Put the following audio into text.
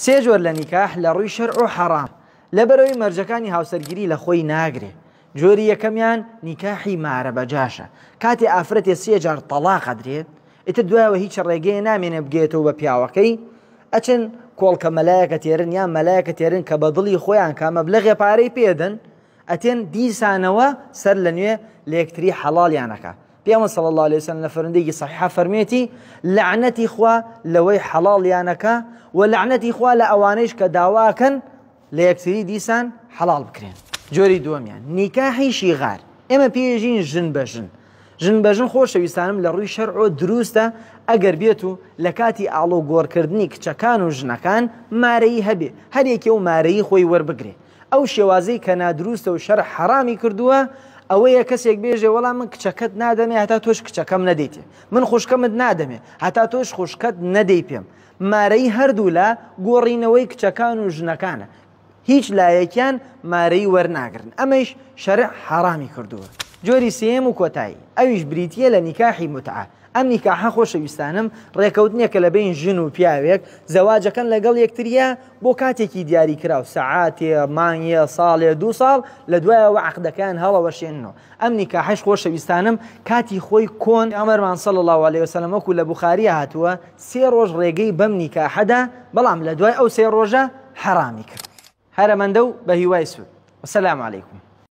سێ جۆر لە نیکاح لە ڕووی شەرع و حەڕام لەبەرەوەی مەرجەکانی هاوسەرگیری لە خۆی ناگرێ جۆری یەکەمیان نیکاحی مارە بە جاشە کاتێ ئافرەتێ سێ جار تەڵاق ئەدرێ ئیتر دوایەوە هیچ ڕێگەیە نامێنێ بگەیەتەوە بە پیاوەکەی ئەچن کۆڵکە مەلایەکە تێرن یان مەلایەکە تێرن کە بە دڵی خۆیان کا مەبلەغێ پارەی پێدەن ئەتێن دیسانەوە سەر لە نوێ لە یەکتری حەڵاڵیانەکە پێامە صلی اللە علیه وسلم لە فەرندێکی صحیحا فەرمێتی لعنەتی خوا لەوەی حەڵاڵیانەکە و لعنەتی خوا لە ئەوانەیش کە داواکەن لە یەکتری دیسان حەڵاڵ بکرێن جۆری دووەمیان نیکاحی شیغار ئێمە پێژین ژن بە ژن ژن بە ژن خۆشەویستانم لە ڕووی شەرعۆ دروستە ئەگەر بێت و لە کاتی ئاڵۆ گۆڕکردنی کچەکان و ژنەکان مارەی هەبێ هەرێکی و مارەی خۆی وەربگرێ ئەو شێوازەی کە نادروستە و شەرع حەڕامی کردووە ئەوەیە کەسێک بێژێ وەڵام من کچەکەت نادەمێ هەتا تۆش کچەکەم نەدەیتێ من خوشکەمت نادەمێ هەتا تۆش خوشکەت نەدەی پێم مارەی هەردوو لە گۆڕینەوەی کچەکان و ژنەکانە هیچ لایەکیان مارەی وەرناگرن ئەمەش شەرع حەڕامی کردووە جۆری سێم و کۆتایی ئەویش بریتە لە نیکاحی متعە ئەم نیکاحە خۆشەویستانەم ڕێکەوتنێکە لە بین ژن و پیاوێک زەواجەکەن لەگەڵ یەکتریە بۆ کاتێکی دیاری کراو سەعاتێ مانگە ساڵێ دو ساڵ لە دوایەوە عقدەکان هەڵەوەشێنەوە ئەم نیکاحش خۆشەویستانم کاتی خۆی کۆن ئەمەرمان سەڵ الله عليه وسلم وەکو لە بخاری هاتووە سێ ڕۆژ ڕێگەی بەم نیکاحەدا بەڵام لە دوای ئەو سێ ڕۆژە حەرامی کرد هەرەمەندە و بە هیوای سود وسلام علیکم